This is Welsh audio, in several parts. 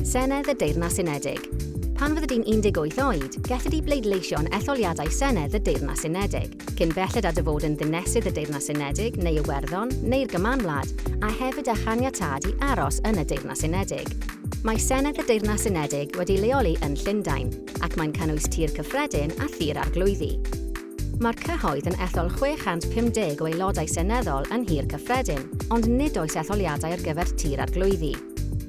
Senedd y Deyrnas Unedig. Pan fyddi di'n 18 oed, gelli di bleidleisio yn etholiadau Senedd y Deyrnas Unedig, cyn belled â dy fod yn Ddinesydd y Deyrnas Unedig neu Iwerddon neu'r Gymanwlad, a hefyd â chaniatâd i aros yn y Deyrnas Unedig. Mae Senedd y Deyrnas Unedig wedi leoli yn Llundain, ac mae'n cynnwys Tŷ'r Cyffredin a Thŷ'r Arglwyddi. Mae'r cyhoedd yn ethol 650 o Aelodau Seneddol yn Nhŷ'r Cyffredin, ond nid oes etholiadau ar gyfer Tŷ'r Arglwyddi.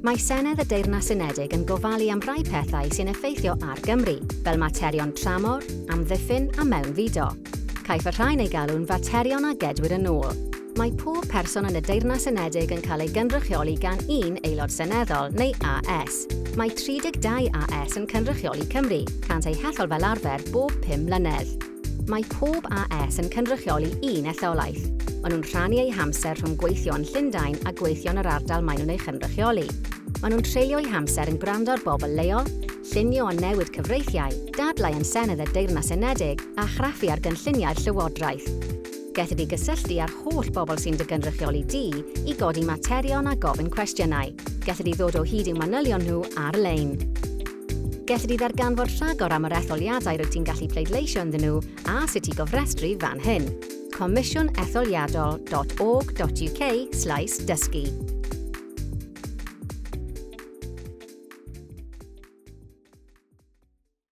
Mae Senedd y Deyrnas Unedig yn gofalu am rai pethau sy'n effeithio ar Gymru, fel materion tramor, amddiffyn a mewnfudo. Caiff y rhain eu galw'n faterion a gedwir yn ôl. Mae pob person yn y Deyrnas Unedig yn cael ei gynrychioli gan un Aelod Seneddol, neu AS. Mae 32 AS yn cynrychioli Cymru, cânt eu hethol fel arfer bob pum mlynedd. Mae pob AS yn cynrychioli un etholaeth. Maen nhw'n rhannu eu hamser rhwng gweithio yn Llundain a gweithio yn yr ardal maen nhw'n ei chynrychioli. Maen nhw'n treulio eu hamser yn gwrando ar bobl leol, llunio a newid cyfreithiau, dadlau yn Senedd y Deyrnas Unedig, a chraffu ar gynlluniau'r Llywodraeth. Gelli di gysylltu â'r holl bobl sy'n dy gynrychioli di i godi materion a gofyn cwestiynau. Gelli di ddod o hyd i'w manylion nhw ar-lein. Gelli di ddarganfod rhagor am yr etholiadau rwyt ti'n gallu pleidleisio ynddyn nhw a sut i gofrestru fan hyn. comisiwnetholiadol.org.uk slaes dysgu